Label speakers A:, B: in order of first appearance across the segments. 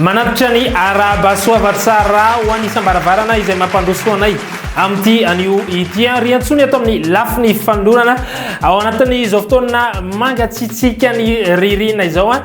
A: Manatitra ny araba soavatsara ho an'ny isam-baravarana izay mampandroso anay amin'ity anio ity an riantsony ato amin'ny lafiny fanolorana ao anatin'izao fotoana mangatsitsiaka ny ririna izao an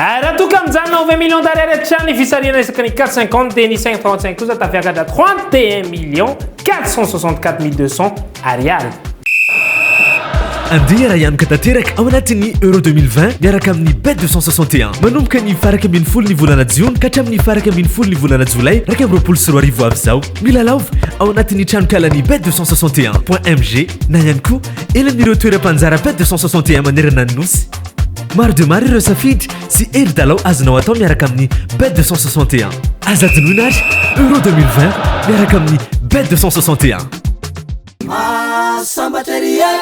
A: Eh, raha toa ka mijanona ho 20 millions d'ariary hatrany fisarihana resaka ny 450 dia ny 535 kosa tafiakatra 31 millions 464 200 ariary
B: andeha raha hianoka tanteraka ao anatin'ny euro 2020 miaraka amin'ny bet 261 manomboka ny faraka ambin'ny folo ny volana jiona ka hatramin'ny faraka ambin'ny folo ny volana jolay raika amin'ny roapolo sy roa arivo avy izao milalaova ao anatin'ny tranonkalan'ny bet 261 point mg na ihany koa elan'ireo toeram-panjara bet 261 manerana ny nosy Maro dia maro ireo safidy sy hevi-dalao azonao atao miaraka amin'ny Bet 261. Aza adinoina ary Euro 2020 miaraka amin'ny Bet 261. Masambatra ery
C: e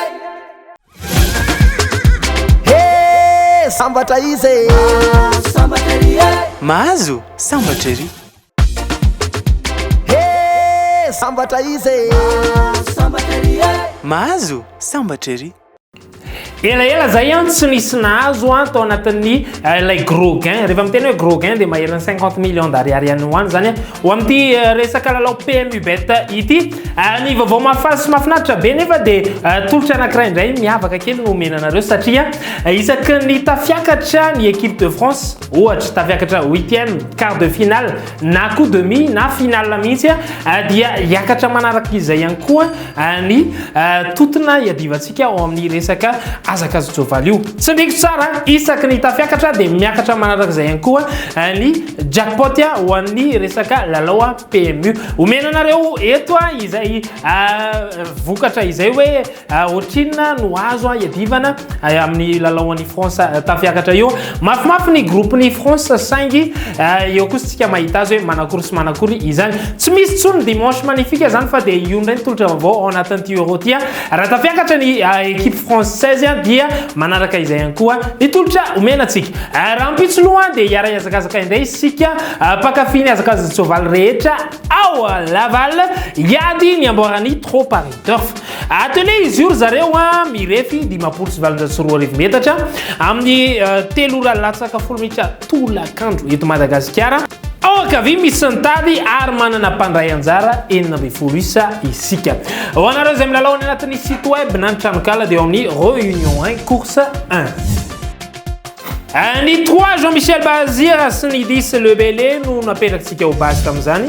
C: He sambatra izy e Masambatra ery e Mahazo sambatra ery He sambatra
D: izy e Masambatra ery e Mahazo sambatra ery Elaela
A: zay an tsy nisy nahazo an tao anatin'ny eh, ilay gros gain. Rehefa miteny hoe gros gain dia maherana 50 millions d'ariary any ho any zany ho amin'ity eh, resaka lalao PMU bet ity. Eh, ny vaovao mahafaly sy mahafinaritra be nefa dia tolotra anankiray indray miavaka kely no omena anareo satria isaky ny tafiakatra ny équipe de France ohatra tafiakatra huitième quart de finale na koa demi na finale mihitsy ah, dia hiakatra manaraka izay ihany koa ah, ny ah, totona iadivantsika ao amin'ny resaka azakazojovaly io tsy miko tsara isaky ny tafiakatra dia miakatra manaraka izay ihany koa ny jackpot ho an'ny resaka lalao PMU omena anareo eto izay vokatra izay hoe Ohatrinona no azo iadivana amin'ny lalao an'i France tafiakatra io? Mafimafy ny groupe-n'i France saingy eo kosa tsika mahita azy hoe manakory sy manakory izany. Tsy misy tsony dimanche magnifique zany fa dia io indray ny tolotra vaovao ao anatin'ity Euro ty. Raha tafiakatra ny equipe française dia manaraka izay ihany koa ny tolotra omena antsika. Rahampitso loha dia hiara hiazakazaka indray isika mpakafy ny hazakaza-tsoavaly rehetra ao Laval hiady ny amboaran'i Trop Paris Turf. Atelier izy io ry zareo a, mirefy dimampolo sy valonjato sy roa arivo metatra amin'ny eh, telo ora latsaka folo minitra tolakandro eto Madagasikara. Ao ankavia misy ny tady ary manana mpandray anjara enina ambin'ny folo isa isika. Ho anareo izay milalao any anatin'ny site web na ny tranonkala dia ao amin'ny Réunion 1 Course 1. Ny 3 Jean Michel Bazira sy ny 10 Lebele no napetrakintsika ho base tamin'izany.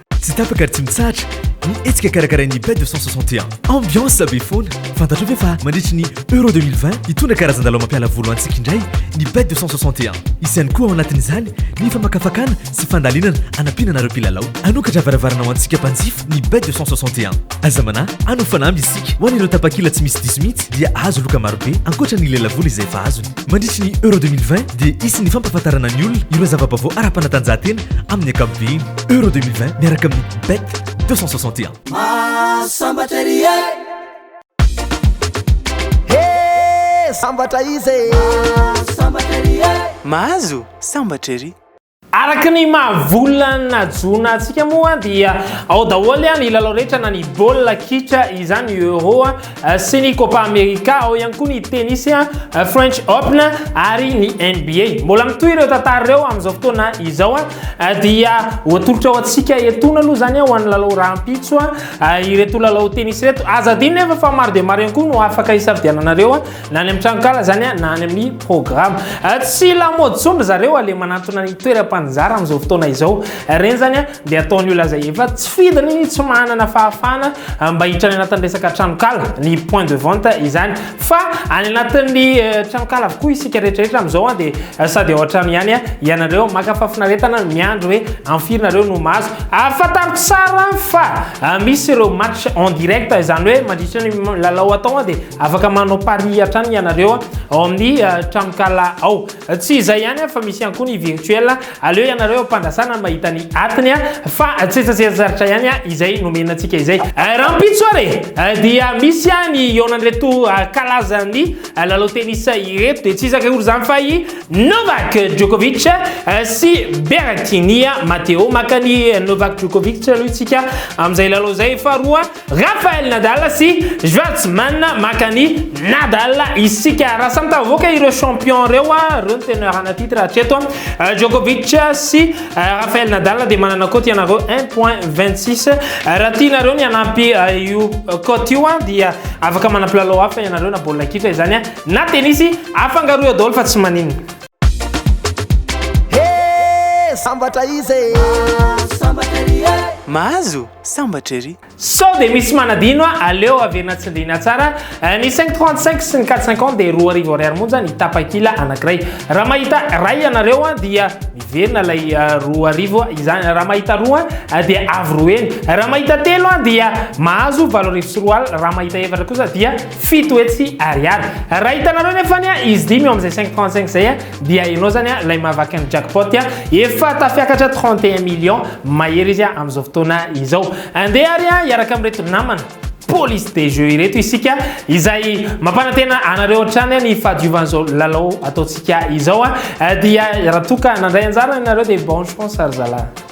A: Tsy tapaka ary tsy
B: mitsahatra ny hetsika karakarain'ny Bête de 161. Ambiance be foana. Fantatrao ve fa mandritry ny Euro 2020 hitondra karazan-dalao mampiala voly ho antsika indray ny Bête de 161. Hisy ihany koa ao anatin'izany ny famakafakana sy fandalinana anampiana anareo mpilalao. Hanokatra varavarana ho antsika mpanjifa ny Bête de 161. Aza manahy, hanao fanamby isika. Ho an'ireo tapakila tsy misy diso mihitsy dia hahazo loka marobe ankoatra ny lelavola izay efa azony. Mandritry ny Euro 2020 dia hisy ny fampahafantarana ny olona ireo zava-baovao ara-panatanjahantena amin'ny ankapobeny. Euro 2020 miaraka amin'ny Bet 261. Mahasambatra ery e!
C: He! Sambatra izy e! Mahasambatra ery e!
D: Mahazo sambatra ery! Araka ny
A: maha-vola najona antsika moa dia ao daholo ny lalao rehetra na ny baolina kitra izany Euro sy ny Copa America, ao ihany koa ny tennis, French Open ary ny NBA. Mbola mitohy ireo tantara ireo amin'izao fotoana izao dia ho atolotra ho antsika etoana aloha izany ho an'ny lalao rahampitso ireto lalao tennis ireto. Aza adino nefa fa maro dia maro ihany koa no afaka hisafidiananareo. na any amin'ny tranonkala zany a, na any amin'ny programme. Eh, tsy lamaody intsony ry zareo a, le manantona ny toeram-panjara amin'izao fotoana izao. Eh, reny zany a, dia ataon'ny olona izay efa tsy fidiny, tsy manana fahafahana eh, mba hiditra any anatin'ny resaka tranonkala, ny point de vente izany. Fa any anatin'ny tranonkala avokoa isika rehetrarehetra amin'izao a, dia sady ao an-trano ihany a, ianareo maka fahafinaretana miandry hoe amin'ny firy nareo no mahazo. Ary fantaro tsara fa misy ireo match en direct, izany hoe mandritra ny lalao atao dia Afaka manao pari hatrany ianareo ao amin'ny tranonkala ao. Tsy izay ihany fa misy ihany koa ny virtuel. Aleo ianareo ampandrasana ny mahita ny atiny fa tsy tsetsezaritra ihany izay nomena antsika izay. Rahampitso ary dia misy ihany eo an'ireto kalazan'ny lalao tennis ireto dia tsy iza akory izany fa i Novak Djokovic sy Berrettini Matteo. Maka an'i Novak Djokovic aloha isika amin'izay lalao izay faharoa. Rafael Nadal sy Schwarzman maka an'i Nadal isika. Raha samy tavoaka ireo champion ireo, ireo ny teneur ana titre hatreto. Djokovic sy Rafael Nadal dia manana cote ianareo 1.26. Raha tianareo ny hanampy io cote io dia afaka manampilalao hafa ianareo na baolina kitra izany na tennis afangaro eo daholo fa tsy maninona. He!
C: Sambatra izy e!
D: Mahazo! sambatra ery. Sao dia misy
A: manadino a! Aleo averina tsindriana tsara. Ny cinq trente cinq sy ny quatre cinquante dia roa arivo ariary monja ny tapakila anankiray. Raha mahita iray ianareo dia miverina ilay roa arivo izany. Raha mahita roa dia avy roa heny. Raha mahita telo dia mahazo valo arivo sy roa alina. Raha mahita efatra kosa dia fito hetsy ariary. Raha hitanareo anefa izy dimy eo amin'izay cinq trente cinq izay, Dia ianao zany a ilay mahavaky ny jackpot a, efa tafiakatra 31 millions mahery izy a amin'izao fotoana izao. Andeha ary a hiaraka amin'ireto namana police des jeux ireto isika izay mampanantena anareo hatrany ny fahadiovan'izao lalao ataontsika izao a, dia raha toa ka nandray anjara ianareo dia bon chance ry zalahy.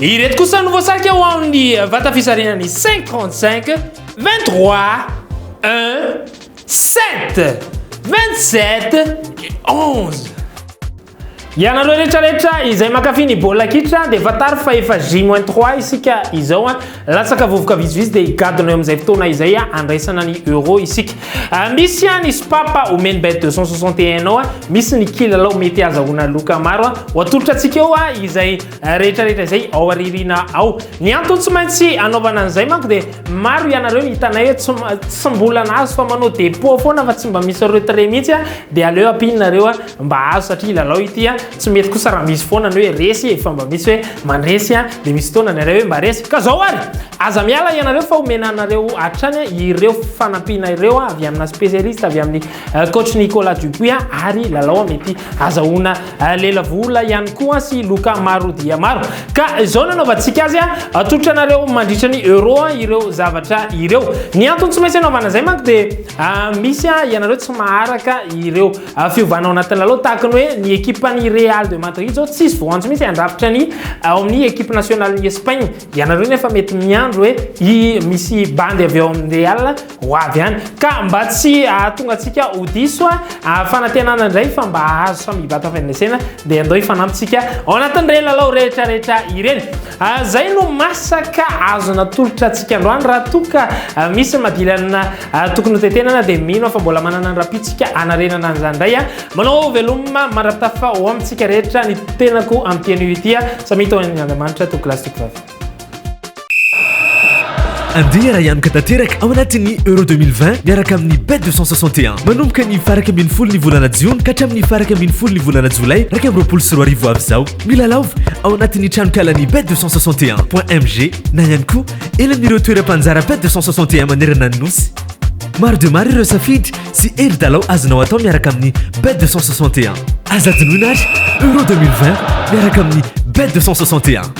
A: Ireto kosa no voasarika ho ao amin'ny vata fisarinan'ny 535, 23, 1, 7, 27 et 11. Ianareo rehetra rehetra izay mankafy ny baolina kitra dia fantaro fa efa J-3 isika izao an. Latsaka vovoka vitsivitsy dia higadona eo amin'izay fotoana izay handraisana ny Euro isika. Ah, misy an ny Spapa omeny bet 261 ao, misy ny kilalao mety azahoana loka maro. Ho atolotra antsika eo izay rehetra rehetra izay ao aririna ao ny antony tsy maintsy anaovana an'izay manko dia maro ianareo ny hitanay hoe tsy mbola nahazo fa manao dépôt foana fa tsy mba misy retrait mihitsy a dia aleo ampianareo a mba azo satria lalao ity a tsy mety kosa raha misy foana ny hoe resy e fa mba misy hoe mandresy a dia misy fotoana ny iray hoe mba resy ka zao ary aza miala ianareo fa omena anareo hatrany ireo fanampiana ireo avy amina spécialiste avy amin'ny euh, coach Nicolas Dupuis ary lalao mety azahoana euh, lela vola ihany koa sy loka maro dia maro ka izao nanaovantsika azy atolotra anareo mandritra ny euro ireo zavatra ireo ny antony tsy maintsy anaovana izay manko dia euh, misy ianareo tsy maharaka ireo fiovana ao anatin'ny lalao tahaka ny hoe ny ekipan'ny Real de Madrid izao tsisy voanjo mihitsy handrafitra ny ao amin'ny ekipe nationale ny Espagne ianareo nefa mety miandro hoe misy bandy avy ao amin'ny Real Ho avy ihany. Ka mba tsy hahatonga antsika ho diso aho, fanantenana indray fa mba hahazo samy hibata avy any lesena, dia andao hifanampintsika ao anatin'ireny lalao rehetra rehetra ireny. Izay no masaka azo natolotra antsika androany. Raha toa ka misy ny madilanina tokony hotentenana dia mino aho fa mbola manana ny rahampitsika hanarenana an'izany indray. Manao veloma mandra-pitafa ho amintsika rehetra ny tenako amin'ity anio ity. Samia tao amin'Andriamanitra, Toky lahy sy Toky vavy. Andeha
B: hiara-hianoka tanteraka ao anatin'ny Euro 2020 miaraka amin'ny Bet 261. Manomboka ny faraka ambin'ny folo ny volana jiona ka hatramin'ny faraka ambin'ny folo ny volana jolay iraika amby roapolo sy roa arivo avy izao. Milalaova ao anatin'ny tranonkalan'ny Bet 261.mg na ihany koa eny amin'ireo toeram-panjara Bet 261 manerana ny nosy. Maro dia maro ireo safidy sy hery dalao azonao atao miaraka amin'ny Bet 261. Aza adinoina ary Euro 2020 miaraka amin'ny Bet 261.